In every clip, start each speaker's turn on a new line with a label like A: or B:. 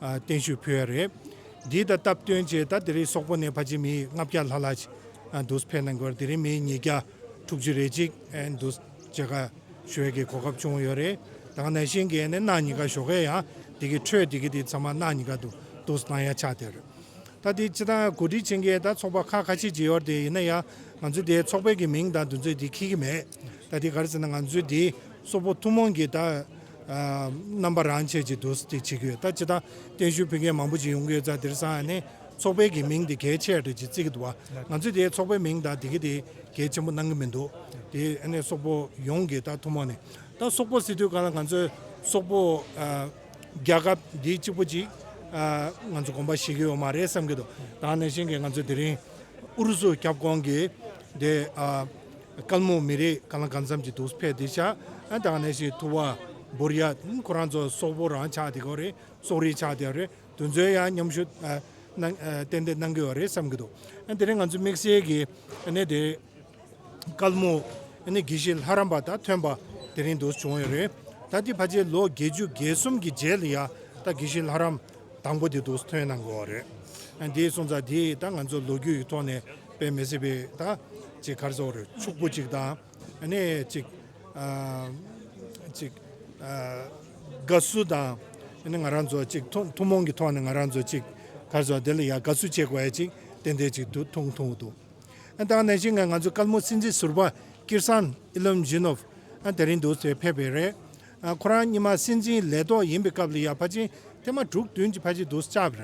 A: བརྟན་ཞུ་ཕུལ་བ་རེད། འདི་ལྟར་སྟབས་བསྟུན་རྗེས་ད་དེ་རིང་སོག་པོ་ནས་ཕ་ཆེ་མི་ལྔ་བརྒྱ་ལྷག་ལ་འདུས་ཕེབས་གནང་སྐོར་དེ་རིང་མི་ཉིས་བརྒྱ་དྲུག་ཅུ་རེ་གཅིག་འདུས་བྱས་ཁ་ཤོས་ཀྱི་གོ་སྐབས་བྱུང་ཡོད་རེད། དང་ནས་ཤིང་གེ་ནས་གནའ་ཉི་ག་ཞོགས་ཁའི་ཡང་དེ་གི་ཁྲོད་དེ་གི་དེ་ཚང་མ་གནའ་ཉི་ག་དུ་འདུས་གནང་ཡ་ཆགས་དེར། ད་དེ་སྤྱི་དང་གོ་སྒྲིག་བྱེད་མཁན་ད་ཚོགས་པ་ཁག་ཁ་ཤས་ཀྱི་ཡོད་དེ་ཡིན་ན་ཡང་ང་ཚོའི་དེ་ཚོགས་པའི་གི་མིང་དང་དུ་ཚོད་དེ་ཁྱེད་ཀྱི་མེད། ད་དེ་ག་རེ་ཟེར་ན་ང་ཚོའི་དེ་སོག་པོ་ཐུང་མོང་གི་ད། རྣམ་པ་རང་ཆས་ཀྱི་འདུ་ཤེས་བྱེད་ཀྱི་ཡོད་ད་ཇི་ལྟར་གཏན་ཞུས་ཕུལ་མཁན་མང་པོ་ཞིག་ཡོང་གི་ཡོད་ཙང་དེར་སང་ནི་ཚོགས་པའི་གི་མིང་དེ་གལ་ཆེ་ཡ་རེད་ཅེས་བརྩི་གི་འདུག་བ་ང་ཚོས་དེ་ཚོགས་པའི་མིང་དང་དེ་གི་དེ་གལ་ཆེན་པོ་གནང་གི་མི་འདུག་དེ་ནི་སོག་པོ་ཡོངས་ཀྱི་ད་ཐུན་མོང་ནས་ད་སོག་པོ་སི་དུས་གང་ལ་ང་ཚོས་སོག་པོ་རྒྱལ་ཁབ་འདི་གཅིག་པོ་ཅིག་ང་ཚོ་གོམ་པ་བཞེས་གི་ཡོད་མ་རེད་བསམ་གི་འདུག་ད་ནས་བཞིན་གི་ང་ཚོ་དེ་རིང་ཨུ་རུ་སུ་ཁྱབ་ཁོངས་ཀྱི་དེ། དཀར་མོ་མི་རིགས་གང་ལ་གང་འཚམ་གྱི་དུག་ཕལ་དེ་ཆགས་ཨ་ད་གནས་ཤིག་ཐུ་བ་འབུར་ཡ་ཁོ་རང་ཚོ་སོག་པོ་རང་ཆགས་དེ་གོ་རེད་སོག་རིགས་ཆགས་དེ་རེད་དུ་ཚོད་ཡ་མཉམ་ཞུ་ཏན་ཏན་གནང་གི་ཡོད་རེད་བསམ་གྱི་འདུག་ཨ་དེ་རིང་ང་ཚོ་དམིགས་བསལ་གྱི་གནས་དེ་དཀར་མོ་དགེ་བཤེས་ལྷ་རམས་པ་དང་ཐོན་པ་དེ་རིང་དུ་བྱུང་ཡོད་རེད་ད་དེ་ཕ་ཆེ་ལོ་བརྒྱད་ཅུ་བརྒྱད་གསུམ་གྱི་རྗེས་ལ་ཡ་ད་དགེ་བཤེས་ལྷ་རམས། དང་པོ་དེ་འདུག་ཐོན་གནང་དགོས་བ་རེད། དེའི་སོང་ཙང་དེ་ད་ང་ཚོ་ལོ་རྒྱུས་ཀྱི་ཐོག་ནས་དཔེ་མི་སྲིད་པའི་ད་ཅིག་གར་སོང་རེད་ཕྱུག་པོ་ཅིག་དང་ནི་ཅིག་ཅིག་དགའ་བསུ་དང་ནི་ང་རང་ཚོ་ཅིག་ཐུང་མོང་གི་ཐོག་ནས་ང་རང་ཚོ་ཅིག་གར་སོང་དེ་ལ་ཡང་དགའ་བསུ་བྱེད་དགོས་བ་ཅིག་ཏན་ཏན་ཅིག་དུ་ཐུང་ཐུང་འདུག་ད་ནས་བཞིན་ང་ཚོ་དཀར་མོ་སྲིད་འཛིན་ཟུར་པ་ཀིར་སཱན་ཨི་ལོམ་ཇི་ནོབ་དེ་རིང་འདུག་དེ་ཕེབས་པའི་རེད། ཁོ་རང་གཉིས་མ་སྲིད་འཛིན་ལས་ཐོག་ཡིན་པའི་སྐབས་ལ་ཡར་ཕ་ཆེན་ཐེངས་མ་དྲུག་བདུན་གྱི་ཕ་ཆེན་དུ་བཅར་བ་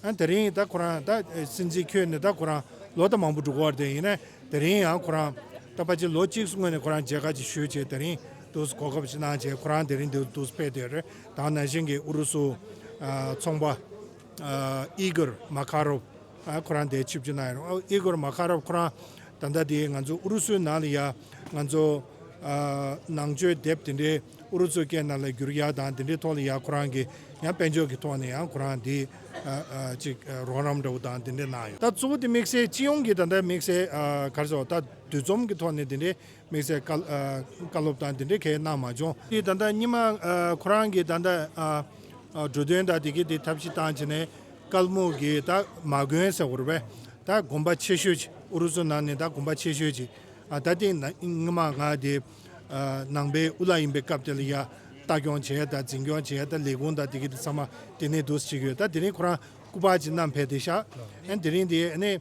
A: རེད། དེ་རིང་ད་ཁོ་རང་ད་སྲིད་འཛིན་ཁྱོན་ནས་ད་ཁོ་རང་ལོ་ད་མང་པོ་འགྲོ་གི་དེ་ཡིན་ན་དེ་རིང་ཡང་ཁོ་རང་ད་ཕ་ཆེན་ལོ་གཅིག་སྔོན་ནས་ཁོ་རང་མཇལ་ཁ་ཅིག་ཞུས་བྱས་དེ་རིང་དུ་གོ་སྐབས་ཞིག་གནང་བྱས་ཁོ་རང་དེ་རིང་འདིར་དུ་ཕེབས་དེ་རེད་དང་ནང་བཞིན་གྱི་ཨུ་རུ་སུ་ཚོང་པ། Igor Makarov ཁོ་རང་འདས་ཕྱི་བཅུ་ན་ཡིན་རུང Igor Makarov ཁོ་རང་ད་ལྟ་དེ་ང་ཚོ་ཨུ་རུ་སུའི་ནང་ལ་ཡ་ང་ཚོ་ནང་ཆོས་དེབ་དེ་འདྲའི་ཨུ་རུ་སུ་སྐད་ནང་ལ་བསྒྱུར་ཡ་དང་དེ་འདྲའི་ཐོག་ལ་ཡ་ཁོ་རང་གི་ཡང་དཔལ་འབྱོར་གྱི་ཐོག་ནས་ཡང་ཁོ་རང་དེ་ཅིག་རོགས་རམ་འདྲ་བོ་དང་དེ་འདྲ་གནང་ཡོད། ད་གཙོ་བོ་དེ་དམིགས་བསལ་སྤྱི་ཡོངས་ཀྱི་ད་ལྟ་དམིགས་བསལ་གར་སོང་ད་འདུས་འཛོམས་ཀྱི་ཐོག་ནས་དེ་འདྲའི་དམིགས་བསལ་བཀའ་སློབ་དང་དེ་འདྲའི་གལ་གནང་མ་བྱུང། དེ་ད་ལྟ་སྙིང་མ་ཁོ་རང་གིས་ད་ལྟ་འགྲོ་དོན་དང་དེ་གི་དེ་ཐབས་ཤེས་བཏང་བྱས་ནས་དཀར་སྨུག་གི་ད་མ་དགོན་ཟེར་བར་བས་ད་དགོན་པ་ཆེ་ཤོས་ཅིག་ཨུ་རུ་སུ་ནང་ནས་ད་དགོན་པ་ཆེ་ཤོས་ཅིག་ད་སྟེ་སྙིང་མ་ང་དེ་ནང་པའི་དབུ་བླ་ཡིན་པའི་སྐབས་དེ་ལ་ཡ་ལྟ་སྐྱོང་བྱས་དང་འཛིན་སྐྱོང་བྱས་ད་ལས་ཁུངས་དང་དེ་གི་དེ་ཚང་མ་དེ་ནས་འདུག་ཅིག་ཡོད་ད་དེ་རིང་ཁོ་རང་སྐུ་པར་ཅིག་བསྣམས་ཕེབས་དེ་ཤག་ཨན་དེ་རིང་དེ་ཨ་ནི།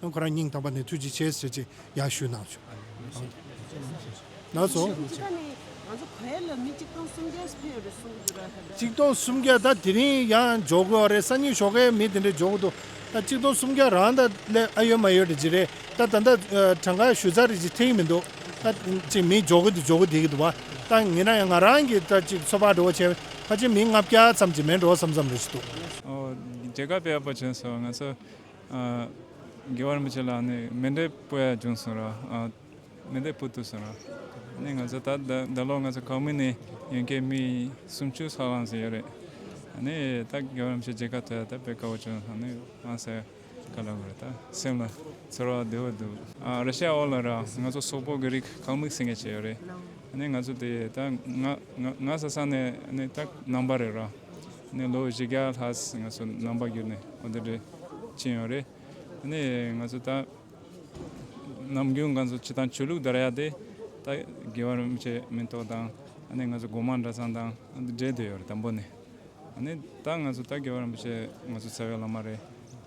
A: ཁོ་རང་སྙིང་ཐག་པ་ནས་ཐུགས་རྗེ་ཆེ་ཟེར་ཅིག་ཡག་ཞུས་གནང་བྱུང། ནགས་སོ། གཅིག་སྟོང་སུམ་བརྒྱ་ད་དེ་རིང་ཡང་འཇོག་དགོས་བ་རེད་གསང་ཉུལ་ཞོག་ཁའི་མི་དེ་འདྲས་འཇོག་གི་འདུག་ད་གཅིག་སྟོང་སུམ་བརྒྱ་རང་ད་སླད་ཨ་ཡོད་མ་ཡོད་རེད་ཅིག་རེད་ད་ད་ལྟ་གྲངས་ཀ་ཞུ་ཚར་རེད་ཅིག་ཐེག་གི་མི་འདུག་ད་གཅིག་མི་འཇོག་གི་འདུག་འཇོག་གི་དེ་གི་འདུག་བ་ད་ངེད་རང་ཡང་ང་རང་གིས་ད་གཅིག་ཚོ་ཕག་འགྲོ་བ་བྱས་བས་ཕ་ཆེན་མི་ལྔ་བརྒྱ་ཙམ་གྱིས་མེད་འགྲོ་བ་བསམ་བསམ་རེད་ཅིག་འདུག། འོ་དེ་
B: ག་པའི་ཨ་ཕ་བྱོན་སོང་ང་ཚོ། དགེ་བར་མི་བྱེད་ལ་ནི་མི་འབྲས་བུ་ཡང་འབྱུང་གསུང་རོགས། མི་འབྲས་བུ་དུ་གསུང་རོགས། ནི་ང་ཚོ་ད་ལོ་ང་ཚོ་ཁོངས་མི་ནི་ཡོན་ཁའི་མི་སུམ་ཅུ་སོགས་ལངས་ཟིན་ཡོད་རེད། ནི་ད་དགེ་བར་མི་བྱེད་རྗེས་ཁ་ཐོད་ད་བོད་དགའ་བོ་བྱུང་སོང་ནི་དབང་སེ་ག་ལ་དགོས་རེད་ད་སེམས་ལ་ཚོར་བ་བདེ་བོ་འདུག། ར་ཤ་ཨོ་ལ་ར་ང་ཚོ་སོག་པོ་གི་རིགས་ཁང་མིག་ཟིན་མཁན་ཞིག་ཡོད་རེད། ནི་ང་ཚོ་དེ་ད་ང་ང་ས་ས་ནི་ནི་ད་ནང་པ་རེད་ར། ནས་ལོ་བཞི་བརྒྱ་ལྷག་ང་ཚོ་ནང་པ་རྒྱུད་ནས་གོ་བདེ་འདྲེ་ཕྱིན་ཡོད་རེད། དེ་ནས་ང་ཚོ་ད་ནམ་རྒྱུན་གང་ཚོ་ཆུ་དང་ཆོས་ལུགས་དར་ཡག་དེ་ད་དགེ་བར་མི་བྱེད་མི་ཏོག་དང་ནས་ང་ཚོ་དགོང་མང་གྲྭ་ཚང་དང་འདྲེ་བསྡོད་ཡོད་རེད་དང་པོ་ནས་ནས་ད་ང་ཚོ་ད་དགེ་བར་མི་བྱེད་ང་ཚོ་ཚ་བའི་བླ་མ་རེད་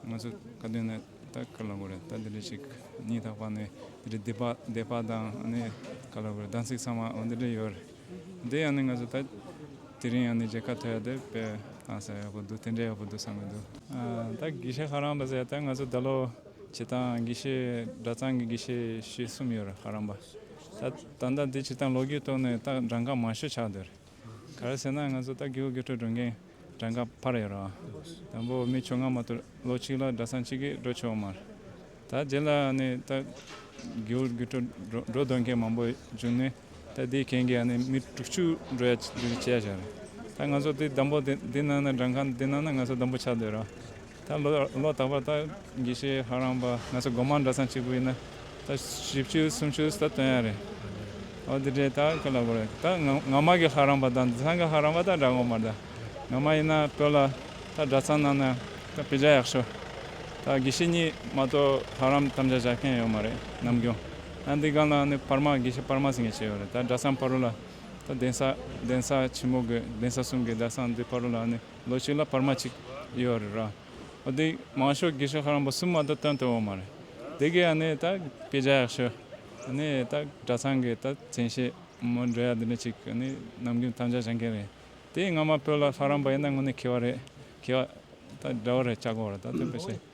B: ང་ཚོ་ཁ་དོན་ནས་ད་ཁ་ལོ་གོ་རེད་ད་དེ་འདྲེ་ཞིག་ཉིད་ཐག་པ་ནས་དེ་འདྲེ་བསྡད་པ་དང་ནས་ཁ་ལོ་གོ་རེད་གདན་སིག་ཚང་མ་འདྲེ་ཡོད་རེད། འདི་ཡང་ནི་ང་ཚོ་ད། དེ་རིང་ཡང་ནི་རྗེས་ཁ་ཐོ་ཡག་དེ་དཔེ་བླངས་ས་ཡག་པོ་འདུག་དེ་འདྲ་ཡག་པོ་འདུག་བསམ་གྱི་འདུག། ད་དགེ་བཤེས་ཧ་རམ་པ་ཟེར་ཡག་ད་ང་ཚོ་ད་ལོ་བྱེ་ཐང་དགེ་བཤེས་གྲྭ་ཚང་གི་དགེ་བཤེས་བཞི་གསུམ་ཡོད་རེད་ཧ་རམ་པ། ད་ད་ལྟ་འདི་བྱེ་ཐང་ལོ་རྒྱུས་ཐོག་ནས་ད་འདྲ་འགའ་མང་ཤོས་ཆགས་འདོད་རེད། ག་རེ་ཟེར་ན་ང་ཚོ་ད་དགེའུ་དགེ་ཁྲོད་འགྲོ་མཁན། གྲངས་ཀ་འཕར་ཡོད་རུང། དང་པོ་མི་ཆུང་སྔ་མ་དུ་ལོ་གཅིག་ལ་སྦྲ་ཚང་གཅིག་གིས་འགྲོ་ཆོག་མར། ད་རྗེས་ལ་ནི་རྟ་རྒྱུག་རྒྱུག་འཕྲོ་འགྲོ་འདོད་མཁན་མང་པོ་བྱུང་ནས་རྟ་དེའི་གན་གྱིས་ནི་མི་དྲུག་ཅུ་འགྲོ་ཡ་བྱས་ཤོག་རེད། ད་ང་ཚོ་དེ་བདམས་པོ་དེ་གནང་ན་གྲངས་ཀ་དེ་གནང་ན་ང་ཚོ་བདམས་པོ་ཆགས་འདོད་རུང། ད་ལོ་ད་བར་ད་དགེ་བཤེས་ཧ་རང་པ་ང་ཚོ་སྒོ་མང་གྲྭ་ཚང་གཅིག་པུ་ཡིན་ན་ད་བཞི་བཅུ་གསུམ་བཅུ་ད་སྟོན་ཡ་རེད་འོ་དེ་འདྲའི་ད་ཁོ་ལ་དགོས་རེད་ད་ངག་མ་གི་ཧ་རང་པ་ད་འདི་ཚང་གི་ཧ་རང་པ་ད་འདྲ་གོ་མ་ད་ངག་མ་ཡིན་ན་བོད་ལ་ད་གྲྭ་ཚང་ནང་ན་ད་བེ་ཇ་ཡག་ཤོ་ད་དགེ་བཤེས་གཉིས་མ་གཏོགས་ཧ་རམ་དམ་བཅའ་བྱ་མཁན་ཡོད་མ་རེད་ནམ་རྒྱུན་ད་འདི་སྒང་ལ་ནི་བར་མ་དགེ་བཤེས་བར་མ་ཟེར་མཁན་ཅིག་ཡོད་རེད་ད་གྲྭ་ཚང་བར་རུ་ལ་ད་གདན་ས་གདན་ས་ཆེན་མོ་དགོས་གདན་ས་གསུམ་གི་གྲྭ་ཚང་འདི་བར་རུ་ལ་ནི། ལོ་གཅིག་ལ་བར་མ་གཅིག་ཡོད་རེད་ར། འདི་མང་ཤོས་དགེ་བཤེས་ཤ་རིང་པོ་གསུམ་མ་ད་དོན་དུ་ཡོང་མ་རེད། དེ་གའི་ནི་ད་སྐད་ཆ་ཡག་ཤོས། ནི་ད་གྲྭ་ཚང་གི་ད་མཚན་ཤེས་མོ་འདྲེ་ཡ་འདི་འདྲ་གཅིག་ནི་ནམ་རྒྱུན་ཐམས་ཅད་བྱེད་མཁན་རེད། དེ་སྔ་མ་བོད་ལ་ཤ་རིང་པོ་ཡིན་ན་དངོས་ནས་ཁེ་བ་རེད། ཁེ་བ་ད་འདྲ་བོ་རེད་ལྕགས་སྒོ་རེད་ད་དེ་བས་ཤེས།